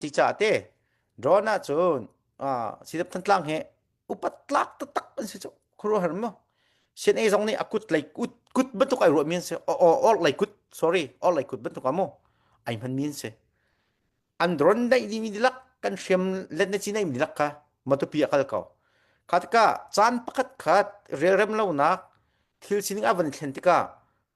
Cicah te drawn ah cun sidap thantlang he upat tlak taktak an si cu khuru har mo sen ei zong nih a kut lei kut kut bantuk ai ruah min se or lei kut sorry or lei kut bantuk amu ai man min se an dron dai di mi dilak kan hrem let na chi nei mi dilak ka matupi akal ko khatka chan pakhat khat rel rem lo nak thil sining avan thlen tika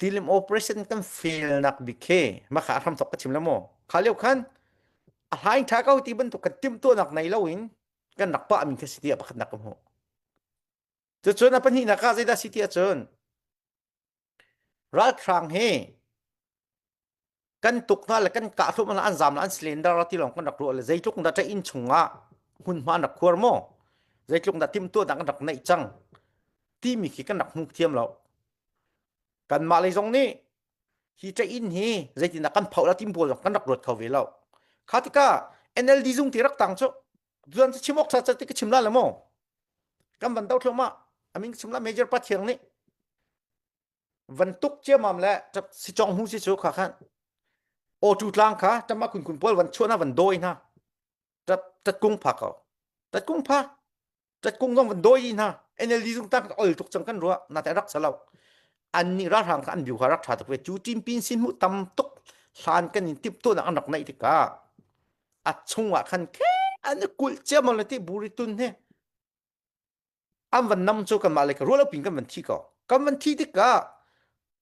Tilim operation kan fail nak bik khi maka hram tok ka chim la maw kha leo khan a hlaing tha ko ti bantuk kan timtuah nak nei lo in kan rak pa min khi si ti pakhat nak ka hmu cucun a pahnih nak ka zeidah si ti ahcun ralhrang hi kan tuk hna le kan kah hlum an zam la an slender ti long kan rak rual zeitluk da in chunga hun ma rak khuar mo zeitluk da tim tua dang rak nei chang ti mi khi kan rak hmu thiam lo kan ma lei zong ni hi che in hi zeitina kan phau la tim bol kan rak ruat kho ve lo khatika NLD zung ti rak tang chu zuan chi chimok sa chi ka chimla le mo kan ban dau thloma amin chumla major pa thiang ni van tuk ciamam le si chong hung si cu kha khan o chu tlang kha tama kun kun pol van chuana van doi na tat tat kung pha ko tat kung pha tat kung zong van doi na NLD zung tak ol tuk chang kan ruwa na te rak salau an ni ra rang kha an biu ha rak tha tuk ve chu tim pin sin mu tam tuk hlan kan in tip to na an rak nai tika a chungwa khan ke an kulh ciamam le ti buritun he an van nam cu kanmah le ka ruah lo pin kan van thi ko kan van thi tikah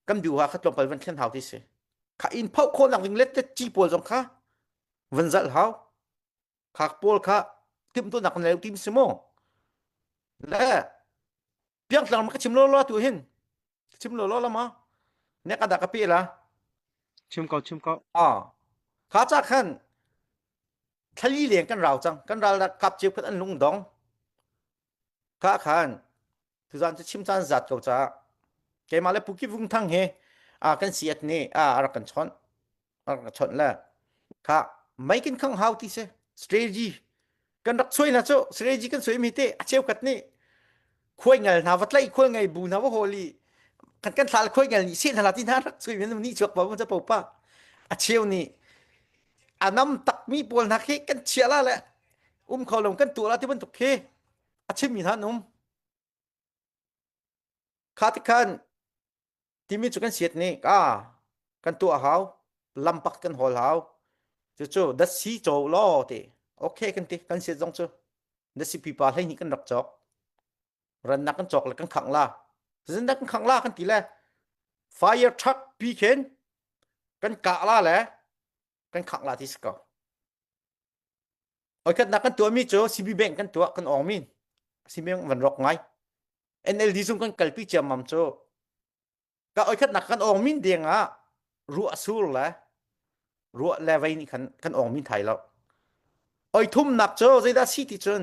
kan biu ha kha tlawmpal van thlen hau ti si kha in phauh khawh nak ding let te ci pawl zong kha van zalh hau khak pawl kha tim tu nak nei tim si mo le piang tlang ma ka chim lo lo tu hin chim lo lo la ma ne ka da ka pe la chim ko chim ko a kha cha khan thlali leng kan rau cang kan ral kap ceu khat an lung dong ka khan tuzan cu chim caan zat ko ca keimah le puki vung thang he a kan siat ni a rak kan chon rak kan chon la ka mai kin khang hau ti se strategy kan rak soi na cho strategy kan soi mi te a cheu kat ni khuai ngel hna va tlai khual ngei bu hna va holi kan kan thlal khuai ngel nih sin hla ti hna rak sui men ni chuak pa cha po pa a cheu ni anam tak mi pawl hna khi kan chia la le um kho lom kan tu la ti bantuk khi a chim mi han um kha ti khan timi cu kan siat nih ka kan tuah hau lampak kan hol hau cucu dasi caw law ti okay kan ti kan siat zong cu dasi pipa hlei nih kan rak cawk rannak kan cawk le kan khang la zindak kan khang la kan ti le fire truck pi khen kan kah la le kan khang la ti si ko Oikhatnak kan tuahmi cu CB Bank kan tuah kan awngmi CB Bank van rawk ngai NLD zung kan kalpi ciammam cu ka oikhatnak kan awngmin deng ah ruah sur le ruah le vei nih khan kan awngmin thai lo oi thumnak cu zeidah si ti cun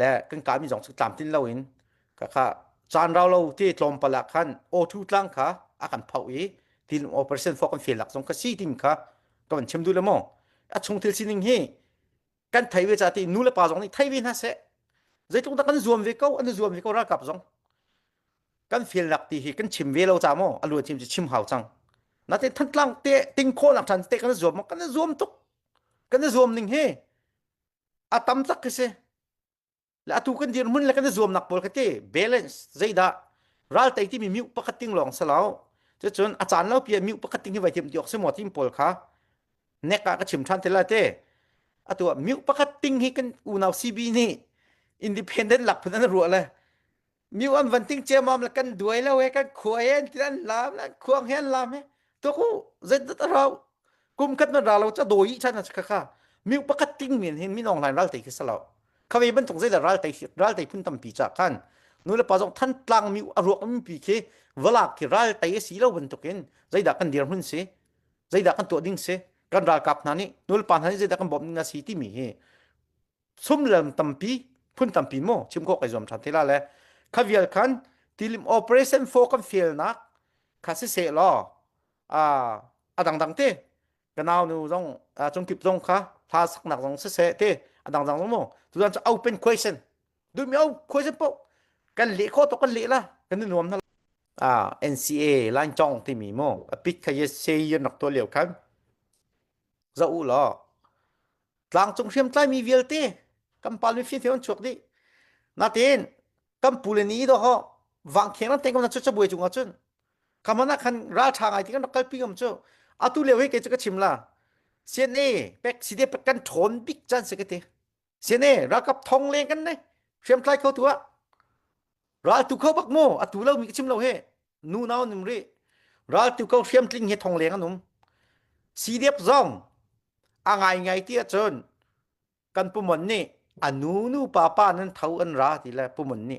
le kan kami zong cu tlamtlin loin kakha caan rau lo te tlawmpal ah khan O2 tlang kha a kan phoh i tin operation fo kan fial lak zong kha si tim kha ka van chim du le maw a chung thil sining hi kan thei ve ca ti nu le pa zong nih thei ve hna se zeitluk dah kan zuam ve ko an zuam ve ko ralkap zong kan fial lak ti hi kan chim ve lo ca maw a lu chim chim hau cang natin thantlang te ting kho lang than te kan zuam kan zuam tuk kan zuam ning hi a tam tak ka si le atu kan dirhmun le kan i zuamnak pawl ka ti balance zeidah ral tei timi miu pakhat ting lawng si lo cun a caan lo pia miu pakhat ting hi vai thiam ti awk si maw tim pawl kha nek ah ka chim than te la te atu ah miu pakhat ting hi kan unau CB nih independent lak phun an ruah le mi an van ting chemam la kan duai lo he kan khua hen ti an lam an khuang hen lam he to ku zet zet rau kum khat man ra lo cha doi chan na kha kha mi pakat ting min hin min online ral tai kisalo khawe ban tung zai la ral tai ral tai phun tam pi cha khan nu le pa jong than tlang mi aruak mi pi khi valak ki ral tai si lo ban tukin zaida kan dir hun si zaida kan to ding se kan ral kap na ni nul pan han zaida kan bom na si ti mi hi sumlam tampi phun tampi mo chim ko kai zuam than te la le kha vial khan tilim operation fo kan fail nak kha si se law a a dang dang te ganau nu zong chung kip zong kha hla sak nak zong si se te a dang dang zong mo tu zan open question du mi o question po kan le kho to kan le la kan nuam na à NCA line chong ti mi mo a pit kha yes say yon nak to liu khan za u law tlangcung hriam tlaimi vialte kan pal mi fian an chuak dih natin kan pule ni do ho wang kheng nan teng ko na chu chabuai chung cun kamana khan ral tha ngai ti kan rak kalpi ngam chu atu le hoi ke chu ka chim la CNA pek side pat kan thon bik chan se ke te CNA rakap thong leng kan ne hriam tlai kho tua ral tu kho bak mo atu lo mi chim lo he nu nau nim ri ral tu ko hriam tling he thong leng anum CDF zong angai ngai ti achun kan pumon ni anu nu pa pa nan thau an ra ti le pumon ni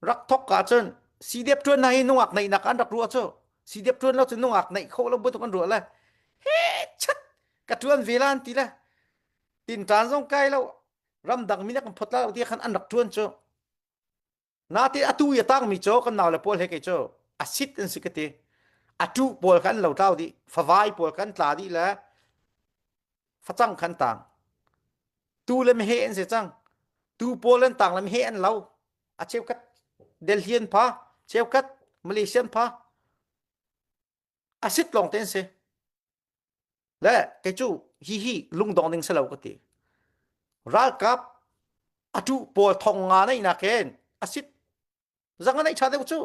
rak thok ka chun CDF tuan na hi nungak nei nak an rak ru chu CDF tuan lo chu nungak nei kho lo bu tu kan ru le he chat ka tuan velan ti le tin tan zong kai lo ram dang mi nak phot la ti khan an rak tuan chu Nate atu i a tangmi cu kan nau le pawl he kei cu a sit an si ka ti. A tu pawl kha an lo tlau dih, favai pawl kan tla dih le facang khan tang. Tu le mehe an si cang. Tu pawl an tang le mehe an lo. A cheukhat Delhian pha, cheukhat Malaysian pha, acid lawng te an si le kei cu hi hi lungdong ding si lo ka ti ralkap atu pawl thong nga nei nak hen acid zang anei tha deuh cu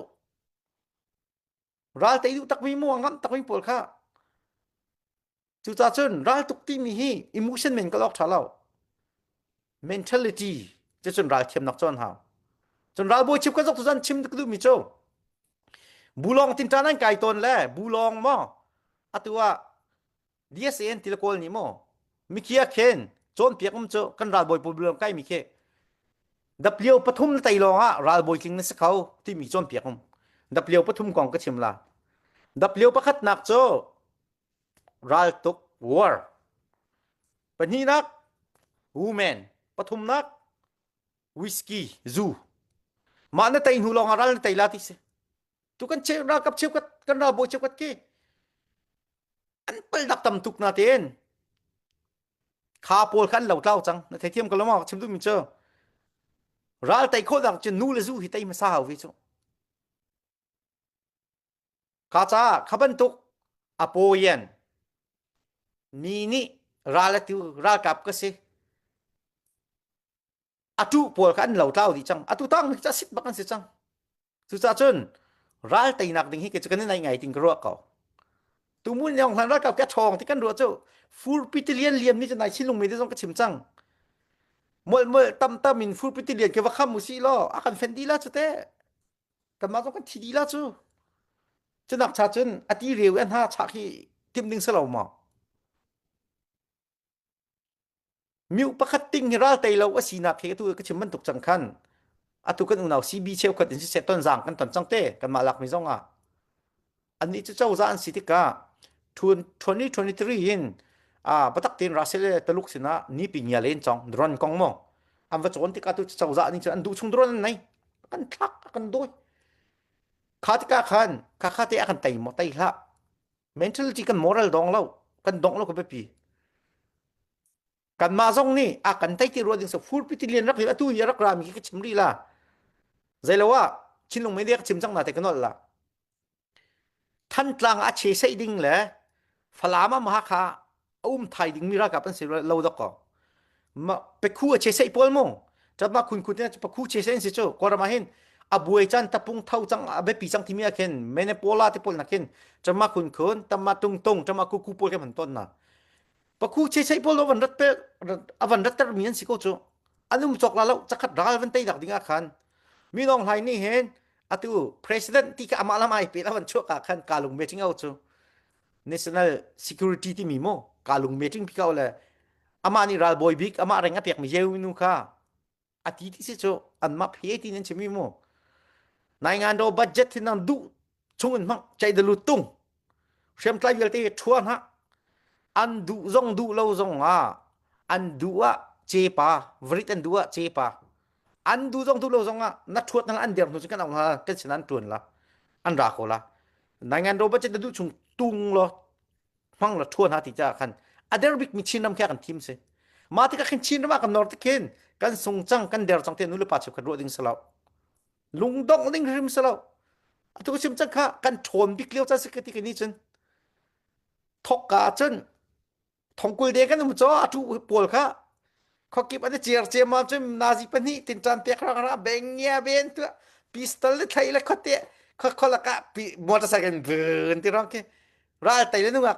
ral te duh takmi mu ngam takmi pawl kha Cucah cun raltuk timi hi emotion men ka lok tha lo. Mentality che cun ral thiam nak chon hau. Cun ral bawi chip ka zok tu zan chim ka du mi cho. Bulong tin tan an kai ton le bulong mo atua DSAN tilkol ni mo mikia khen chon piak um cho kan ral boy problem kai mi khe W pathum tai longa ral boy tling na sakau ti mi chon piak um W pathum kong ka chim la W pakhat nak cho raltuk war pahnihnak women pathumnak whisky zu mah na tei hnu lawngah ral na tei la ti si tu kan cheu ra kap cheu kat kan ra bo cheu kat ke an pal dak tam tuk na ten kha pawl khan lo tlau chang na thei thiam ko lama chim tu min cho ral tei khol dak chu nu le zu hi tei ma sa hau hi chu Kha caah kha bantuk apoyan mi nih ral a tu ralkap ka si a tu pawl kha an lo tlau dih cang atu tang hi cu sit bak an si cang cucah cun ral teinak ding hi ke cu kan nai ngai ting ka ruah ko tu mun yong hlan ralkap ke thong ti kan ruah cu furpiti lian liam ni cu nai chinlung me te zong ka chim cang mol mol tam tam in furpiti lian ke va kham u si law a kan fen di la cu te kanmah zong kan thi dila cu cunak cha cun a ti reu i a hna chak hi timh ding si lo maw miu pakhat ting hi ral tei lo a sinak he tu ka chim bantuk cang khan atu kan unau CB cheu khat in si set ton zang kan ton cang te kanmah lakmi zong ah annih cu cozah an si tikah 2023 in batak tein Russell le Taluk sinah nipi nia len chong drone kong maw an va cawn tikah tu cozah nih cun an duh chung drone an nei kan thlak kan doi kha tikah khan kha kha te a kan tei mo tei hla mentality kan moral dong lo kan dong lo ka biapi kanmah zong nih a kan tei ti rua ding so furpi ti lian rak hi atu hi rak rami ka chim ri la zei lo ah chinlung mei ka chim cang na te kanol la thantlang a che sei ding le falam ma ha kha um thai ding mi ra ka pan se lo dok ko ma pekhu a che sei pol mong chat ma khun khun te pekhu che sei si chu korama hin abuai chan tapung thau chang abe pi chang thimi akhen menepola te pol nakin chama khun khun tama tung tung chama ku ku pol ke man ton na pakhu checheih pawl avan rat avan rat termi an si ko cu anung chok la lo chakhat ral van tei dak ding ah khan mi nong hlai ni hen atu president ti ka amah lam ai pe avan chuak ka khan kalung meeting au chu national security ti mi mo kalung meeting phikau le ama ni ral boy bik ama reng apek mi yeu nu kha a ti ti si cu anmah phe ti nan chimi mu nai ngan do budget thin nang du chung in mang chai de lu tung hrem tlai vialte thua na an du zong du lo zong a an du a che pa varit an du a che pa an du zong du lo zong a na thuat nang an der nu kan ang ha kan sinan tuan la an ra ko la nai ngan do budget du chung tung lo hmang la thua hna ti ca khan a der bik mi Chin ram kha kan thim se ma ti ka khin Chin ram kan nor te khin kan sung chang kan der chang te nu le pa cheu kan ru ding selo lung dong ding hrim selo atu sim chang kha kan thon bik leo cha se ka ti ni chun thok ka chun thongkul de kan mu cho atu pawl kha khokip an cer cemam cu nazi pahnih tin tan tek rang ra bengia ben tu pistol le thlai le khote khokholak ah motorcycle vun ti rong ki ral tai le nungak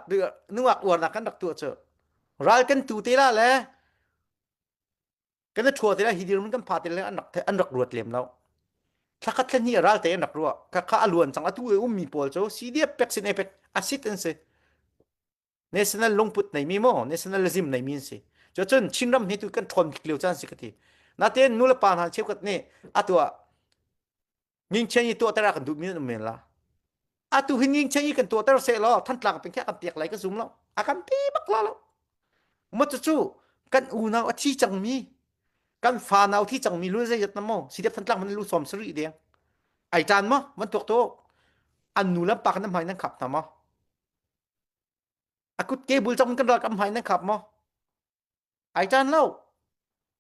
nungak uarnak kan rak tu chu ral kan tu te la le kan thua te la hidir mun kan pha te le an rak an rak ruat lem lo thlakat thlen hi ral te an rak ruwa ka ka aluan chang atu e um mi pol chu cdf pek sin epek assistance national lungput neimi maw nationalism neimi an si cu cun chinram hi tu kan ṭhawn bik lio caan si ka ti natein nu le pa hna cheukhat nih atu ah ngingchen i tuahter a kan duhmi an um men la atu hi ngingchen i kan tuahter se law thantlang peng kan tiak lai ka zum lo a kan pi bak lo lo ma cu kan unau a thi cangmi kan fa nau thi cangmi lu zei na mo si dep thantlang man lu som sari deng ai tan ma man tok to an nu lam pa kan hmai nan khap na ma a kutke bul chong kan rak am hai na khap mo ai tan lo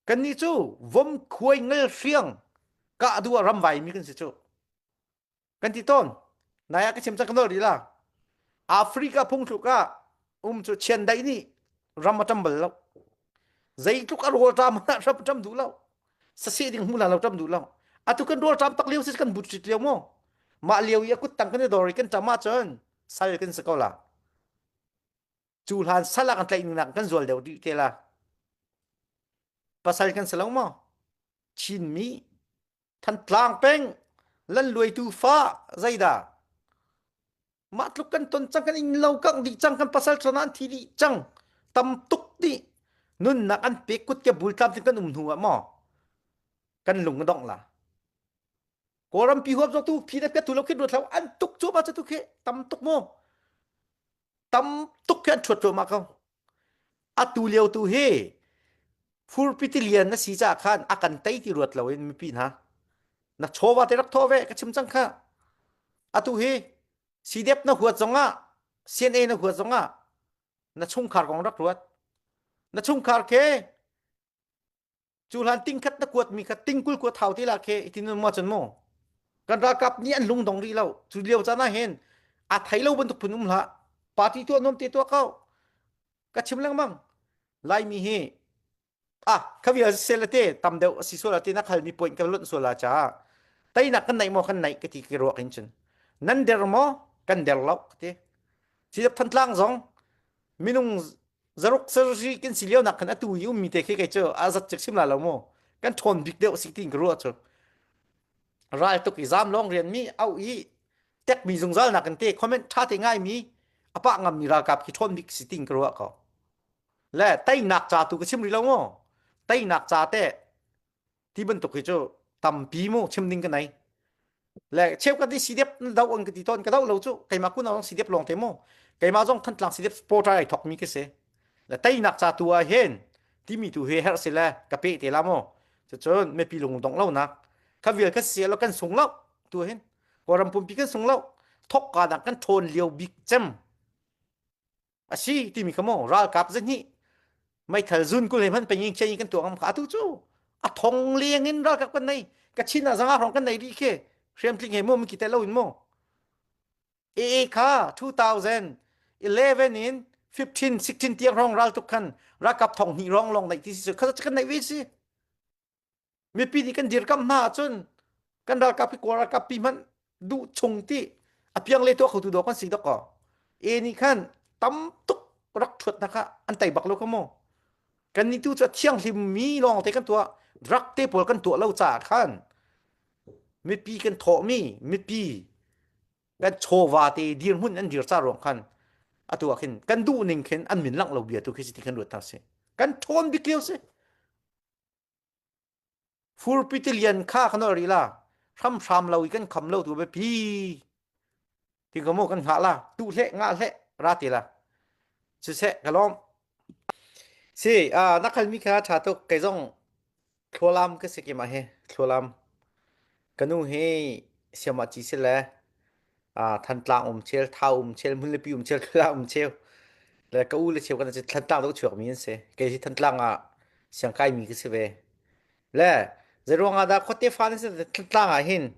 kan ni cu vom khuai ngel hriang ka adua ram vai mi kan si chu kan ti ton naya ka chim chak no ri la africa phung thlu ka um chu chian dai ni ram atambal lo zeitluk arol ta mana rap tam du lo sasi ding hmula lo tam du lo atu kan rol tam tak liu sis kan but chit liu mo ma liu i akut tang kan dori kan tama chon sal kan si ko la cu hlan sal ah kan tlaih ningnak kan zual deuh dih te la pasal kan si lo maw chinmi thantlang peng lan luaitu fa zaida mah tluk kan ton cang kan in lo kang dih cang kan pasal thona an thi dih cang tam tuk dih nunnak an pek kut ke bul tlam tin kan um hnu ah maw kan lung dong la kawlram pi huap tu phi le pia tu lo khi ruat lo an tuk chu ma tu khi tam tuk mu tam tuk khi an chuat ma ko atu lio tu hi furpiti lian na si cha khan a kan tei ti ruat lo in mipi na na chova te rak tho ve ka chim chang kha atu hi CDF na huat zonga CNA na huat zonga na chungkhar kong rak ruat na chungkhar ke cu hlan ting khat na kuat mi kha ting kul kuat thau te la khe itin mo chan mo kan rakap ni an lung dong ri lo cu liao chana hen a thai lo bantuk phun um la party tu nom te to kau ka chim lang mang lai mi hi a khavi a se te tam deu asi so la te na khal mi point ka lot so la cha tai na kan nai mo kan nai ka ti ki ro kin chin nan der mo kan der lo te si than tlang zong minung zaruk sarri kan si lionak khan atu i ummi te khi kei cu azat cek sim la lo mu kan ṭhawn bik deuh si tin ka ruah cu ral tuk i zam long rian mi au i tek mi zungzal nak kan te comment ṭha te ngai mi apa ngam mi ralkap khi ṭhawn bik si tin ka ruah ko le teinak ca tu ka sim ri lo mu teinak ca te ti bantuk hi cu tampi mu chim ding ka nai le cheu ka ti sidep dau an ka ti ton ka dau lo chu keima kun awang sidep long te mu keima zong than tlang sidep sport ai thok mi ke se le tai nak cha tu a hen ti mi tu he her se le ka pe te la mo chu chun me pi lung dong lo nak ka vil ka se lo kan sung lo tu hen ko ram pum pi kan sung lo thok ka da kan thon liu bik chem asi timi kha maw ralkap zahnih meithal zun kul he hman pengin khian kan tuah ngam kha atu cu a thong leng in ralkap kan nei ka chin ah zanga rong kan nei ri ke hriam tling he mo mi ki te lo in mo ee kha 2011 in 15 16 tiang rong ral tuk khan rakap thong hni rong long nei ti si kha kan nei ve si mipi nih kan dirkamh hna ahcun kan ralkap hi kawl ralkap pi hmanh duh chung ti apiang le tuah khotu dawk kan si dok ko e nih khan tam tuk rak thuat hna kha an tei bak lo kha mu kan ni tu cu thianghlim mi lawng te kan tuah drug te pawl kan tuah lo caah khan mipi kan thawhmi mipi kan chawva te dirhmun an dir ca ruang khan atu ah khin kan duh ning khin an min langh lo bia tu khi si ti kan ruat thar si kan thawn bik lio si furpitilian kha kan ol ri la hramhram lo i kan kham lo tu biapi ti ko mu kan hngah la tu hle nga hle ra ti la si se ka lom si a na khal mi kha tha tuk kei zong thlualam ka sikima he thlualam Kanu hi siamaci sile ah Thantlang um cheu, Thau um cheu, Hmunlipi um cheu, Kala um cheu le ka u le cheu kan Thantlang tuk chuakmi an si. Kei hi Thantlang ah siangkaimi ka si ve. Le zeiruangah dah khuate fa na si Thantlang ah hin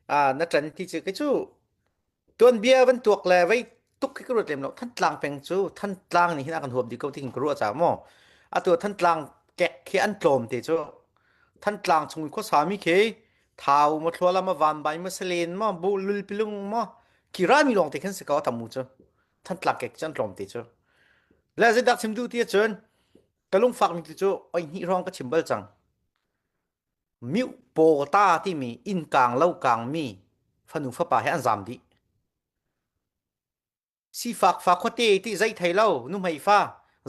na ṭan ti cu kei cu tuanbia van tuak le vei tuk khi ka ruat lem lo thantlang peng cu thantlang nih hin a kan huam dih ko ti ka ruah ca maw atu thantlang kek khi an tlawm te cu thantlang chung i khuasa mi khi thau ma thluala ma van bai ma salen ma bu lul pilung ma ki ra mi lawng te khan se ka tamu cu thantlang kek cu an tlawm te cu le zai dak chim du ti cun ka lung fak mi ti cu oi hni rong ka chim bal cang Miuhpaw ta timi innkang lo kangmi fanu fapa he an zaam dih. Sifak fa khuate ti zei thei lo nuhmei fa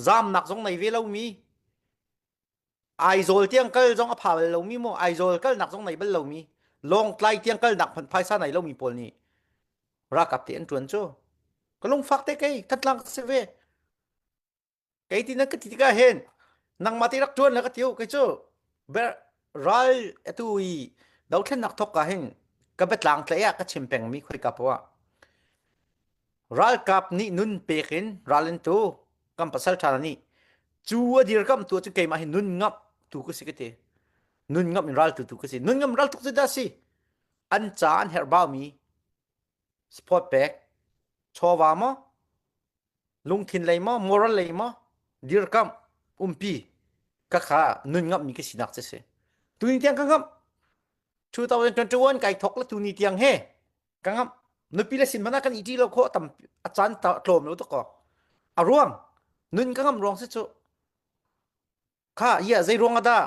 zaamnak zong nei ve lomi Aizawl tiang kal zong a pha bal lomi maw Aizawl kalnak zong nei bal lomi Lawngtlai tiang kalnak hmanh phaisa nei lomi pawl nih ralkap te an ṭuan cu. Ka lungfak te kei ka tlak si ve. kei ti na ka ti tikah hen nangmah te rak ṭuan la ka tiu kei cu ber ral atu i dothlennak thok ka hin ka betlang tlei ah ka chim pengmi khoi ka poa ralkap nih nun pek in ral in tu kan pasal ṭha nih cu a dir kam tu cu keimah hi nun ngap tu ka si ka ti nun ngap in ral tu tu ka si nun ngam ral tuk cu da si an ca an herh baumi Support pek. Chawva maw? Lungthin lei maw? Moral lei maw? Dirkamh. Umpi. Ka kha nun ngamh mi ka sinak che si. Tuni tiang ka ngamh. 2021 kai thok la tuni tiang he. Ka ngamh. Nupi la sin mana kan iti lo kho tam achan ta tlom lo to ko. Aruang. Nun ka ngam ruang se chu. Kha ia zei ruang ada?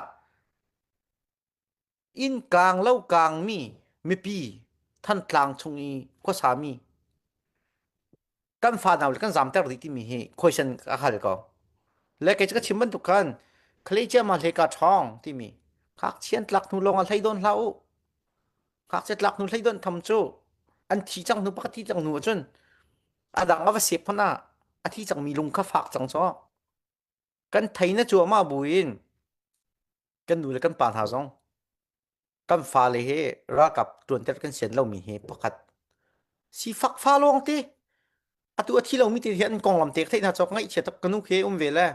inn kaang lo kaangmi mipi thantlang chung i khuasami kan fa nau le kan zamter dih timi hi question a hal ko le kei cu ka chim bantuk khan khalecia ma hleka ṭhawng timi khak chian tlak hnu lawng a hlei don hlah u khak che tlak hnu hlei don tham cu an thi cang hnu pakati cang hnu ahcun a dang a va sep hmana a thi cangmi lung kha fak cang caw kan thei na cuahmah buin kan nu le kan pa hna zong kan fale he ralkap tuanter kan sian lomi he pakhat sifak fa lawng te atu a thi lomi te hi an konglam tek theih hna cawk ngaih chia tak kanu ke um ve le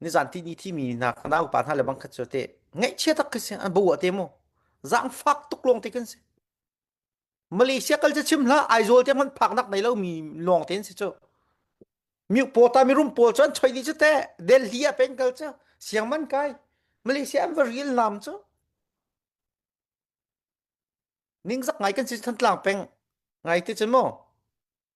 nizan ti ni thi mi na na upa hna le bangkhat cu te ngaih chia tak ka si an bo te mo zang fak tuk lawng te kan si Malaysia kal cu chim hlah Aizawl te hmanh phaknak nei lo mi lawng ten si cu miukpaw ta mi rum pawl cu an choi di cu te Delhi a pen kal cu siang man kai Malaysia an va real nam cu ning zak ngai kan si than tlang peng ngai te cun maw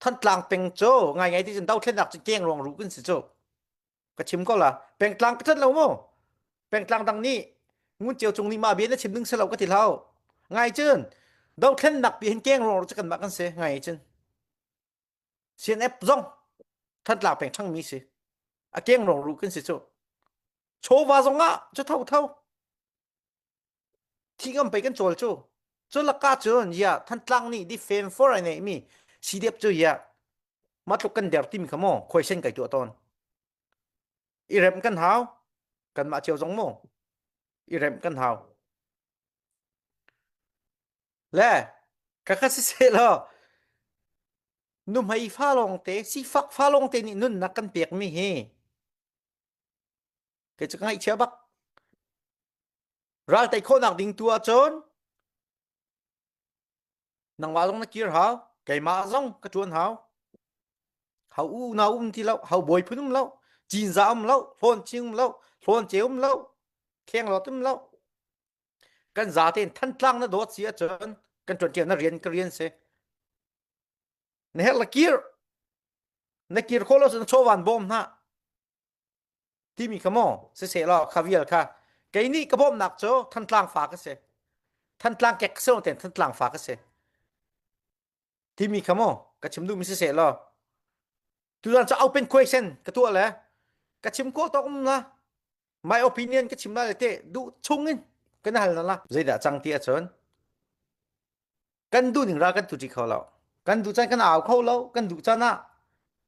Thantlang peng cu ngai ngai ti cun dothlennak cu keng ruang ruh kun si cu ka chim ko la pengtlang ka tlanh lo mu pengtlang dang nih ngun ceu cung lima bian na chim ding selo ka ti lau ngai cun dothlennak pi hin keng ruang ruh cu kanmah kan si ngai cun CNF zong thantlang peng ṭhangmi si a keng ruang ruh kun si cu chawva zong ah cu tho tho Thi ngam pei kan cawl cu. Cu lakah cun ya Thantlang nih di fem for ai neihmi sidep cu ya matluk kan der timi kha maw khoisen kai tuah tawn. I rem kan hau kanmah cio zong maw i rem kan hau le ka kha si se lo nuhmei fa lawngte sifak fa lawngte nih nunnak kan pekmi hi kei cu ka ngaihchia bak ral tei khawhnak ding tu ahcun nangmah zong na kir hau keimah zong ka tuan hau hau u na um ti lo hau bawi phun um lo cinza um lo hlawn ching um lo hlawn ce um lo kheng lot um lo kan za ten than tlang na dawt si ahcun kan tuan ṭiau na rian ka rian se na her la kir na kir kho lo sun chowan bom na timi kha maw siseh law kha vial kha kei nih ka bawmhnak cu thantlang fa ka si thantlang kek ka si lo ten thantlang fa ka si timi kha maw ka chim duhmi siseh law tutan cu open question ka tuah le ka chim ko tok um na my opinion ka chim na le te duh chung in ka na hal na la zeidah cang ti ahcun kan duh ning ra kan tu ti kho lo kan duh can kan au kho lo kan duh can ah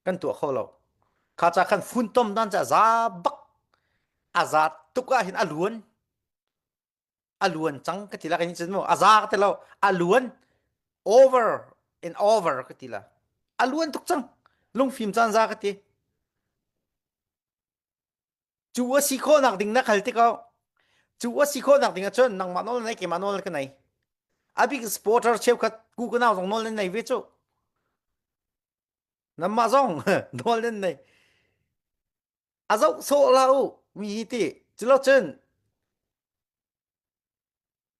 kan tua kho lo kha cha khan fun tom dan cha za bak aza tuk ah hin aluan aluan cang ka ti la kan chin mo aza ka ti lo aluan over and over ka ti la aluan tuk cang lungfim chan za ka ti cu a si khawhnak ding na khal tikah cu a si khawhnak ding ahcun nangmah nawl nei keimah nawl ka nei a bik supporter cheukhat ku kanau zong nawl nan nei ve cu nanmah zong nawl nan nei a zoh sawh la u mi hi ti culo cun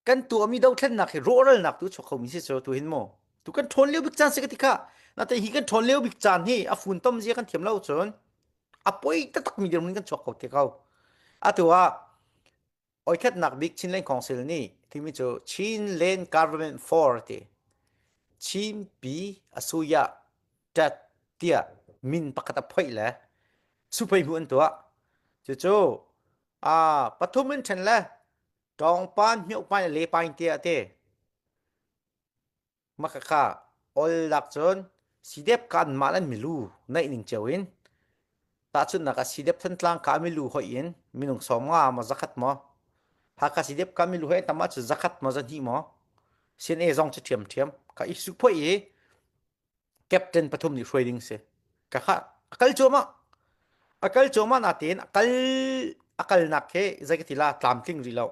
kan tuahmi dothlennak hi rawhralnak tu chuak khomi si so tu hin mu tu kan ṭhawn lio bik caan si ka ti kha natte hi kan ṭhawn lio bik caan hi a funtom zia kan thiam lo cun a poi taktakmi dirmun kan chuak ko te ko atu ah oikhatnak bik Chinland Council nih timi cu Chinland Government for ti Chinpi asuya tat tiah min pakhat a phoih le supei hu an tuah cucu a pathum in ṭhen le ṭawngpan hmihukpain le pain te a ti makaka ol lak cun sidep kan mal an milu naih ning cio in tahchunnak a sidep thantlang ka milu hoi in minung som nga ma zakhat mo haka sidep ka milu hoi tama cu zakhat mo zan hi mo sin e zong chu thiam thiam ka isu phoi i captain pathum nih hruai ding si ka kha a kal cuahmah a kal cuahmah na tein a kal a kalnak he zei ka ti la tlamtling rih lo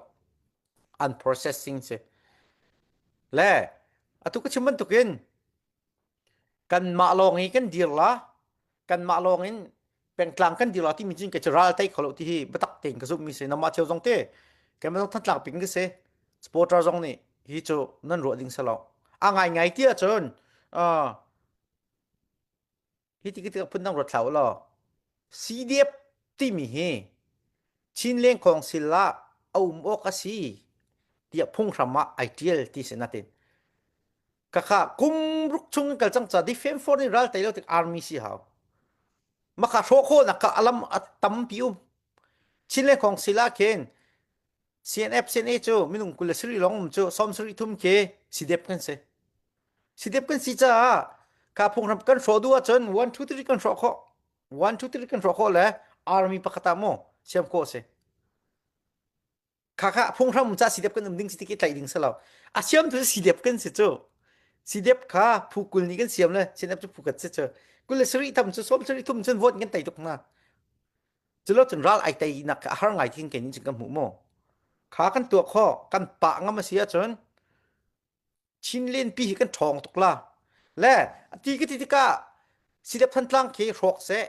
unprocessing si le atu ka chim bantukin kan mah lawng i kan dir la kanmah lawng in pengtlang kan dir lo ti mi cin ke ral tai kholo ti hi batak tein ka zum mi se namah cheu zong te kan mazong than tlak ping ke se supporter zong nih hi chu nan ruah ding selo a ngai ngai ti ahcun hi ti kita phun dang ruat thlau lo CDF ti mi hi Chin leng kong sila aum ok asi tia phung hram ah ai tial ti se natin kakha kum ruk chung in kal cang ca di fem for ni ral tai lo tik army si hau maka hro kho na ka alam tam pi um chin le khong sila khen CNF CNA cu minung kul le siri long cu som siri thum ke sidep kan se sidep kan si caah ka phung ram kan hro du ahcun 1 2 3 kan hro kho 1 2 3 kan hro kho le army pakata mo siam ko se kha kha phunghram ca sidep kan um ding si tik i tlaih ding selo a siam tu sidep kan si cu sidep kha phu kul ni kan siam le sidep cu phukat si cu kul le sari tham cu som sari thum cun vote kan tai tuk na culo cun ral ai tai nak ka har ngai tin ke ni cun ka mu mo kha kan tua kho kan pa ngam a sia cun Chin lenpi hi kan ṭhawng tuk la. Le a ti ka ti tikah Silep Thantlang ke hrawk seh,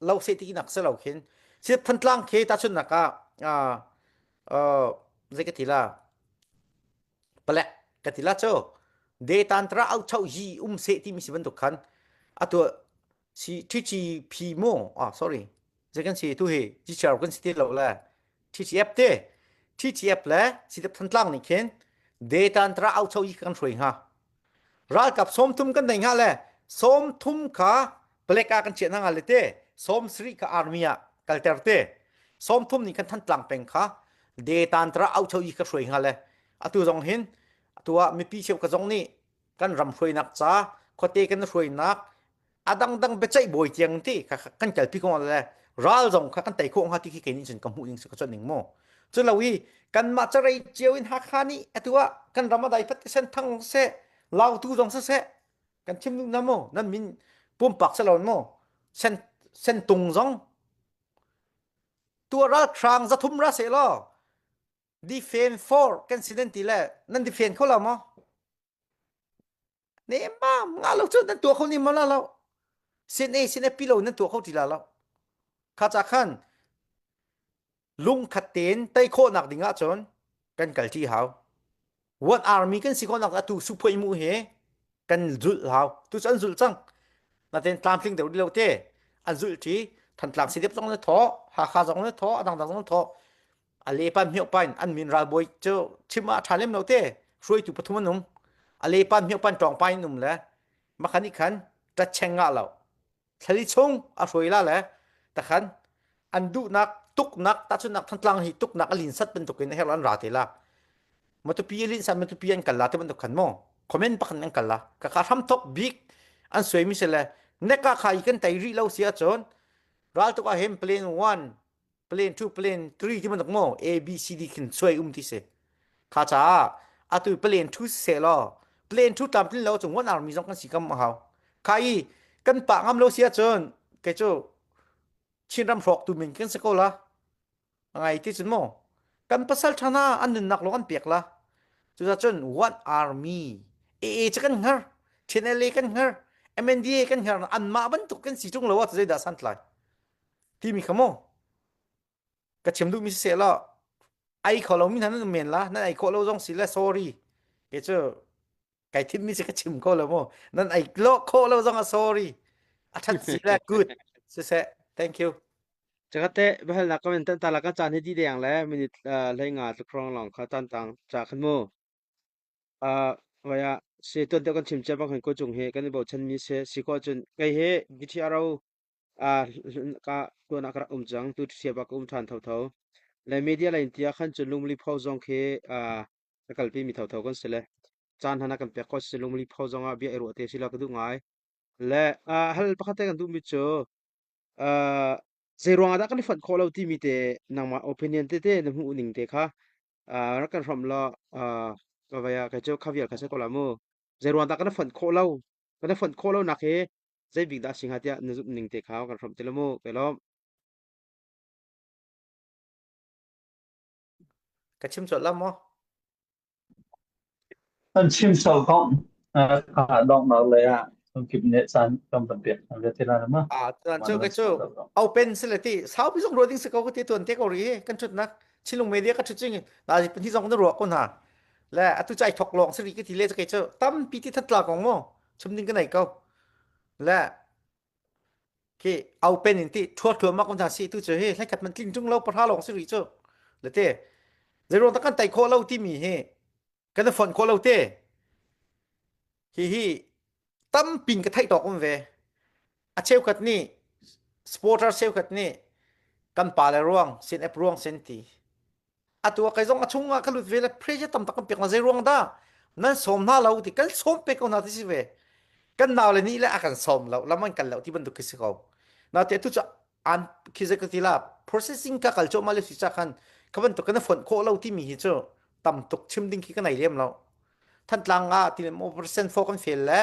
lo seh ti nak se lo khin Silep Thantlang ke tahchunnak ah uh, uh, zei ka ti la pale ka ti la cho de tan tra au chau hi um se ti mi si bantuk khan atu Si Twitchi phi mo ah sorry. Zei kan si tu hi Twitcher kan si ti lo le Twitch app te Twitch app le sidap thantlang nih khin data an tra au chau i kan shroi ha. Ral kap som thum kan nei nga le som thum ka black a kan che na nga le te som sri ka army a kalter te som thum nih kan thantlang peng kha data an tra au chau i ka shroi nga le atu zong hin atu a mipi cheu ka zong nih kan ram hruainak ca khote kan hruainak a dangdang biaceih bawi tiang ti kan kalpi ko le ral zong kha kan tei ko nga ti khi kenin cun ka hmuh ning ka chon ning mo chu lo hi kan mah carei cio in hakha ni atua kan ram adai fat sen thang se lau tu zong se se kan chim nu na mo nan min pum pak se lon mo sen sen tung zong tua ral khrang za thum ra se lo Defend for kan si nan ti le nan defend kho lo maw? Ne mam nga lo cu nan tua kho ni ma la lo. Sin a sin a pilo nan tua kho ti la lo. Kha cha khan lung khat ten tai khawh nak ding ah cun kan kal ti hau. What army kan si ko nak atu su phoi mu he kan zul hau tu an zul cang naten tlam tling deuh lo te an zul ti than tlam si dep zong le tho ha kha zong le tho adang dang zong tho ale pan myo pan an min ral boy cho chima tha lem no te hroi tu pathum anum ale pan myo pan tong pai num le makhani khan ta cheng nga lo thlali chung a hruaila le takhan an duhnak tuknak tahchunnak thantlang hi tuknak a linsat bantukin her an ra te la matupi alin sa matupi an kalla te bantuk khan mo comment pakhan an kalla ka ka hram thok big an suai mi se le ne ka khai kan tai ri lo sia chon ral to ka hem plan 1 plan to plan 3 ti bantuk mo a b c d khin suai um ti se kha cha atu plan to se lo plan to tam tin lo chung one army zong kan si kam hau kha i kan pa ngam lo sia chun ke chu chin ram hrok tu min kan se ko la ngai ti chun mo kan pasal thana an nun nak lo an pek la chu za chun one army e e cha kan har channel kan har MNDA kan har an ma ban tuk kan si chung lo wa zai da san tlai timi kha mu ka chim duhmi si se lo ai kho lo mi hna nan men la nan ai kho lo zong si le sorry ke cu kai thim mi si ka chim ko lo mu nan ai lo kho lo zong a sorry a that si le good si se thank you chakate behal na comment tan tala ka chan hi di deng le minute le nga tu krong long kha tan tang cha khan mu a vaya se ton te kan chim che bang han ko chung he kan bo chan mi se si ko chun kai he githi arau Ah ka tuan ah ka rak um cang tu ṭhiab ah ka um ṭhan thotho. Le media le intia khan cun lungli pho zong khi ah ka kalpi mi thotho kan si le caan hana kan pek ko si lungli pho zong ah bia i ruah te si lo ka duh ngai. Le ah hal pakhat te kan duh mi cu ah zei ruangah dah kan i fonh khawh lo timi te nangmah opinion te te na hmuh ning te kha ah rak kan hram law ah ka vai ah kai cu khavial kha sai ko la mu. Zei ruangah dah kan i fonh khawh lo kan i fonh khawh lo nak hi Zeibik dah a si hnga tiah na zumh ning te kha kan hrawmh ti lo mu kai lawm. Ka chim cawlh la maw? An chim so kong ah donghnak lei ah kip ne caan kan van piak hna ve thila ma. Ah tuan cu kai cu open si le ti saupi zong ruading si ko ti tuan te ko ri kan chut nak chilung media ka chut ching na ji pun hi zong na ruwa ko na le atu chai thok long si ri ki ti le kai cu tam pi ti that la kong mo chumding ka nei ko le ki au pen in ti thuat thua mak hna si tu chu hi hlekhat man tling chung lo pahra lawng si ri chu le te zeirong ta kan tai kho lo ti mi hi kan da fon kho lo te hi hi tam pin ka thai tok um ve a cheu khat ni sporter cheu khat ni kan pa le ruang sin app ruang sen ti atu kai zong a chung ah ka lut ve le pressure tam tak kan pek na zei ruang dah nan som hna lo ti kan som pe ko hna ti si ve kan nau le nih le a kan som lo lam an kan lo ti bantuk khi si ko na te tu cha an khi ze ka ti la processing ka kal cho ma le si cha khan ka bantuk kan phon kho lo ti mi hi chu tam tuk chim ding khi ka nei lem lo than tlang a ti le mo percent fo kan fail le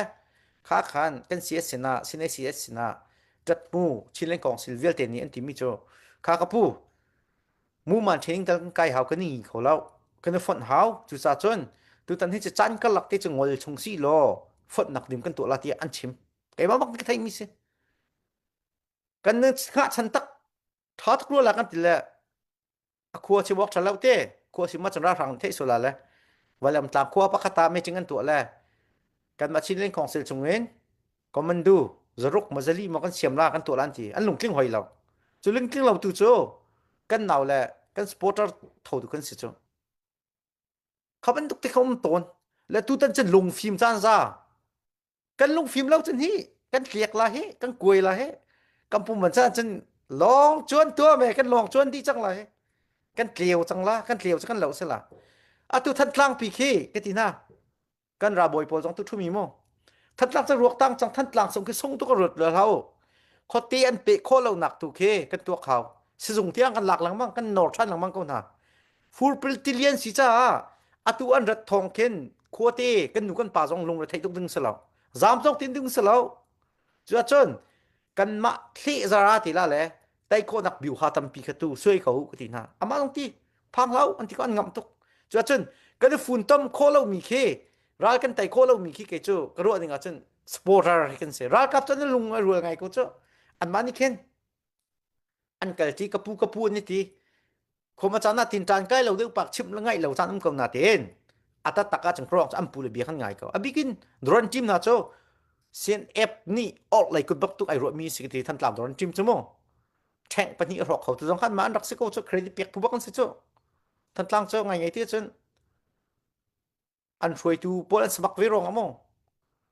kha khan kan cs sina sine cs sina tat mu chin leng kong sil vialte ni an ti mi chu kha ka pu muman training tal kan kai hau kan ngi kho lo kan i fonh hau cuca cun tutan hi cu caan karlak te cu ngol chung si law fontnak dim kan tuah la tiah an chim keimah bak ka thei mi si kan ngahchan tak tha tak lo la kan ti le a khua si wok tha lo te khua si ma chanra hrang thei sola le walam tlang khua pakhata me ching an tuah le kan ma chin leng khong sil chungin Commando zaruk mazali mo kan siam la kan to lan ti an lungtling hoi lo cu lungtling lo tu cu kan nau le kan supporter tho tu kan si cu khaban tuk te khom ton le tu tan chen lung phim chan za kan lung phim lo chen hi kan tliak la hi kan kuai la hi kan pum man chan chen long chuan tua me kan long chuan di chang la hi kan tleu chang la kan tleu chu kan lo se la atu than tlang pi khi ka ti na kan ralbawi pawl zong tu thu mi mu thatlak ca ruak tang chang than tlang sung khi sung tu ka ruat la hau khote an pe kho lo nak tu khi kan tuak hau sizung tiang kan lak langmang kan nor than langmang ko na fur pil tilian si cha atu an rat thong khen khote kan nu kan pa zong lung re thei tuk ding selo zam chok tin ding selo chu chun kanmah hlehzara ti la le tai khawhnak biu ha tampi kha tu suai ko ka ti hna amah lung ti phang hlau an ti ko an ngam tuk cu cun kan i fun tom kho lo mi khi ral kan tai kho lo mi khi ke cu ka ruah ding ah cun supporter hi kan si ralkap cun lung a rual ngai ko cu an mah nih khin an kal ti kapu kapu an ti khoma chana tin tan kai lo deuh pak chim la ngai lo tan um ko na ten ata taka chang krong am pule bia kan ngai ko abikin drone team na cho sen app ni or lai ku bak tu ai ro mi si ti than tlam drone team chu mo tank pani ro kho tu jong khan man rak se ko cho credit pek pu bakan se cho than tlang cho ngai ngai ti chun an hruaitu pawl an semak ve rong a maw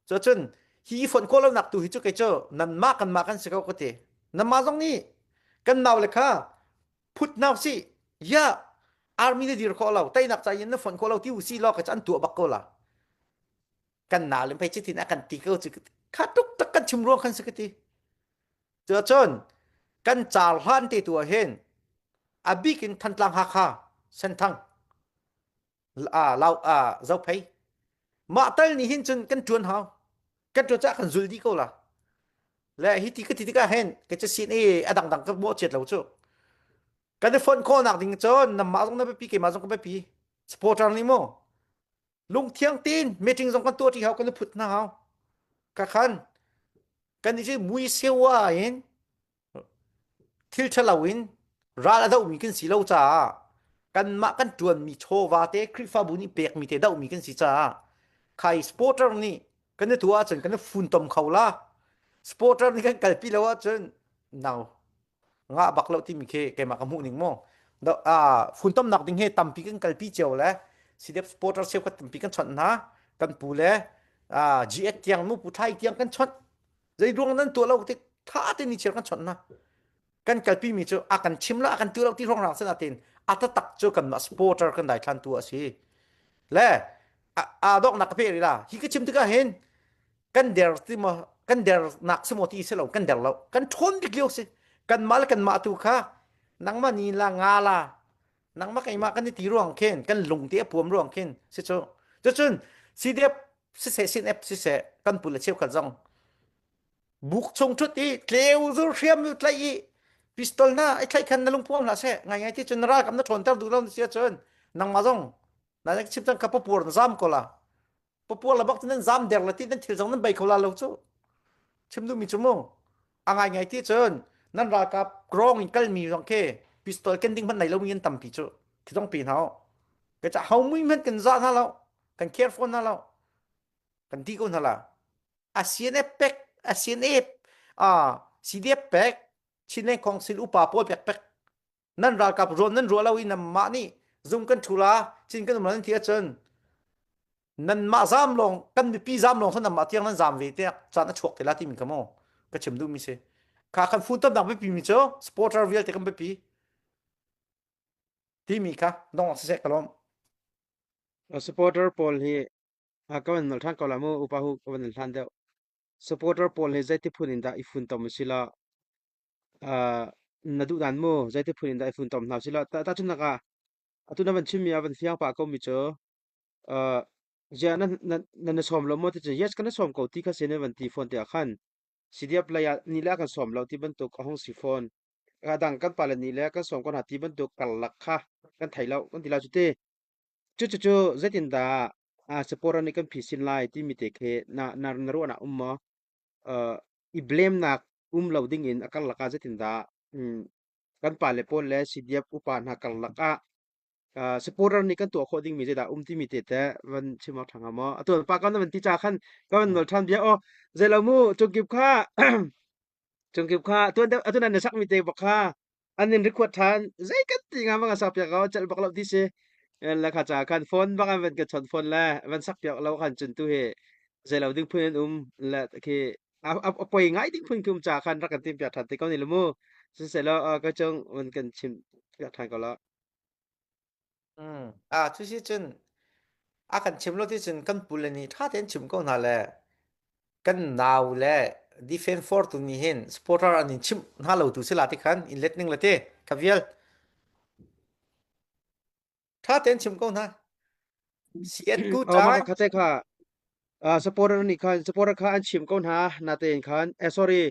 so cun hi i fonh khawh lonak tu hi cu kei cu nanmah kanmah kan si ko ka ti nanmah zong nih kan nau le kha phut nau si ya army na dir khawh lo tainak ca in na fonh khawh lo ti u si lo ka an tua bak ko la kan na lim phei chitin a kan ti ko chu kha tuk tak kan chim ruang khan su kati chu chon kan char hlan te tu hen abik in thantlang ha kha senthang a lau a zo phei mah tal ni hin cun kan tuan hau kan tuan cah kan zul di ko la le hi ti ka ti tikah hen ka ca sin e a dang dang ka mo chiat lo cu kan i phone call nak ding cun nam ma zong na pi ke ma zong ka pi supporter ni mo lung thiang tin meeting zong kan tuah ti hau kan phut na hau ka khan kan ni je mui sewa in thil ṭhalo in ral a dohmi kan si lo caah kanmah kan ṭuanmi chawva te Khrihfabu nih pekmi te dohmi kan si caah khai supporter nih kan i tu ahcun kan i funtom kho la supporter nih kan kalpi lo ahcun nau ngah bak lo timi khi keimah ka hmuh ning maw funtomnak ding he tampi kan kalpi cio le sidep supporter cheukhat tampi kan chawnh hna kan pu le GS tiang nu pu thlai tiang kan chawnh zeiruang nan tuah lo tik tha tein ni chiar kan chawnh na kan kalpi mi cu a kan chim la a kan tu lo ti rong rang sen atin ata tak cu kan ma supporter kan dai than tu asi le a dok nak pe ri la hi ka chim tika hin kan der ti ma kan der nak simo ti se lo kan der lo kan thon dik liu si kan ma le kan ma tu kha nangma ni la nga la nangma kai ma kan ni ti ruang khen kan lung te apuam ruang khen se cho chun CDF siseh sin ep siseh kan pun le cheu kan zong buk chung thut i tleu zur hriam nu tlai i pistol na ai tlai khan na lung puang hla se ngai ngai ti chun ra kam na thon ter du don sia chun nang ma zong na nek chim tang ka papur na zam ko la papur la bak nan zam der la ti nan thil zong nan bai ko la lo chu chim du mi chumu angai ngai ti chun nan ra ka grong in kal mi zong ke pistol ken ding man nei lo min tam pi chu thi dong pi nao ke cha hau mui men ken za na lo kan care fawn hna lo kan ti ko hna la ASEAN pek ASEAN ah CDF pek Chinland Council upa pawl pek pek nan ralkap ruan nan ruah lo in mah nih zung kan thula chin kan umlan ti ahcun nan mah zam long kan mipi zam long san mah tiang nan zam ve te chan a chuak tila ti min kamo ka chim du mi se kha kan phun tam nak bipi mi cho supporter real te kan bipi ti mi kha dong se kalom Supporter pawl hi ka van nal ṭhan ko lai mu upa hu ka van nal hlan deuh. Supporter pawl hi zeiti phun in dah i funtom sila na duh dan mu zeiti phun in dah i funtom hna sila tahchunhnak ah atu na van chimmi a van fiang pah komi cu ziah na na sawm lo maw ticun yes ka na sawm ko ti kha si ne van ti fawn tiah khan CDF lei ah ni le a kan sawm lo ti bantuk a hung si fawn. Radang kan pale ni le kan sawm ko hna ti bantuk karlak kha kan thei lo kan ti lai cu ti. Cucucu zeitindah ah sapora nih kan phisin lai timi te khi na nar na ruahnak um maw? Uh, I blemnak um lo ding in a karlak ah zeitindah um, kan pale pawl le sidiap upa hna karlak ah supporter nih kan tuah khawh dingmi zeidah um timi te teh van chim awk ṭhang maw atu pa kan van ti ca khan kan van nual ṭhan bia aw zei lo mu cungkip kha cungkip kha tuan atu nan sak mi te bak kha an in record ṭhan zei kan ti nga manga sak piak ko cel bak lo ti si la kha ca khan phone bak an van ka chon phone le van sak piak lo khan cun tu hi zei lo ding phun um la khi a, a, a poi ngai ding phun kum cha khan rak kan tim piak than te ko ni lu mu siselo ka chung un kan chim piak than ko la Mm. Ah, cu si cun a kan chim lo ti cun kan pule nih tha tein chim ko hna le kan nau le defend for tu nih hin supporter an in chim hna lo tu sila ti khan in let ning le ti ka vial ṭha tein chim ko hna sian ku ta mana khate kha supporter nih khan supporter kha an chim ko hna na te khan eh sorry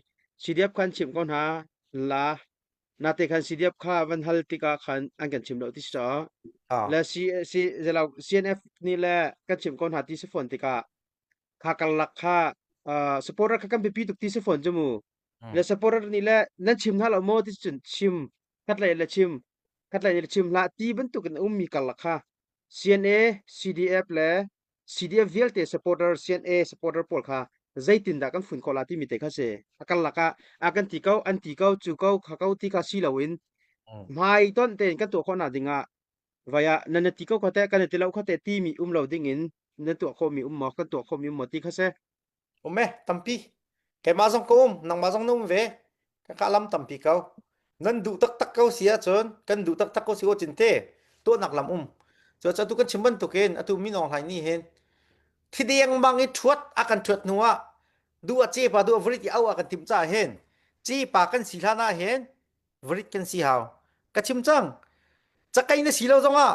CDF khan chim ko hna la na te khan CDF kha van hal tika khan an kan chim lo ti so le si si zelaw CNF ni le kan chim ko hna ti se phone tika kha kalak kha supporter kha kan pipi tuk ti se phone jumu le supporter ni le nan chim hna lo mo ti chun chim kat le le chim Khatlei le chim hlah ti bantuk in a ummi karlak kha CNA, CDF le CDF vialte supporter CNA supporter pawl kha zeitin dah kan fun khawh la timi te kha si. A karlak ah a kan ti ko, an ti ko, cu ko, kha ko ti ka si loin hmai ton tein kan tuah khawh nak ding ah vai ah nan ti ko kha teh kan ti lo kha teh timi um lo ding in nan tuah khawhmi um maw kan tuah khawhmi um maw ti kha si. um e tampi keimah zong ka um nangmah zong na um ve ka lam tampi ko nan duh taktak ko si ahcun kan duh taktak ko si ko cinte tuahnak lam um cu atu kan chim bantukin atu min aung hlain nih hin thideng mang i thuat a kan thuat hnu ah du a ce pa du a varit i au a kan tim ca hen ci pa kan si hlan ah hen varit kan si hau ka chim cang cakai na si lo zong ah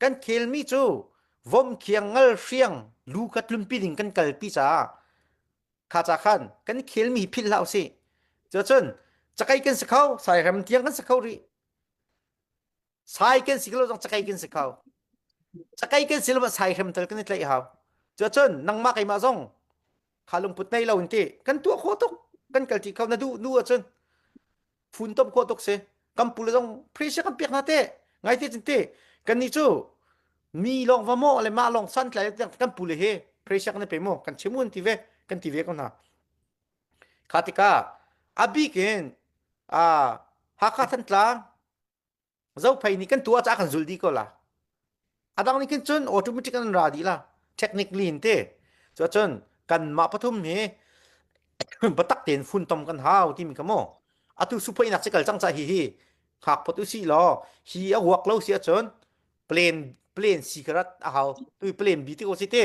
kan khelmi cu vomkhiang ngal hriang lu kha tlunpi ding kan kalpi caah kha ca khan kan khelmi philh hlah usih cun cakai kan si kho sai rem tiang kan si kho rih sai kan si lo zong cakai kan si kho cakai kan si lo sai rem tal kan i tlaih hau cun nangmah keimah zong kha lungput nei lo in ti kan tuah kho tuk kan kal ti kho na duh nu ahcun funtom khua tuk si kan pule zong phi se kan piak na te ngai te cin te kan ni chu mi long va mo le ma long san tlai kan pule he phi se kan pe mo kan chimun ti ve kan ti ve ko na khatika abik in a hakha thantlang zophei nih kan tu ah kan zul di ko la adang nih khin cun automatic an ra di la technically in te chu cun kan mah pathum hi batak ten fun tom kan hau ti mi kamo atu supoi nak cikal chang cha hi hi khak phot u si lo hi a huak lo sia chun plane plane si karat a hau tu plane bi ti ko si te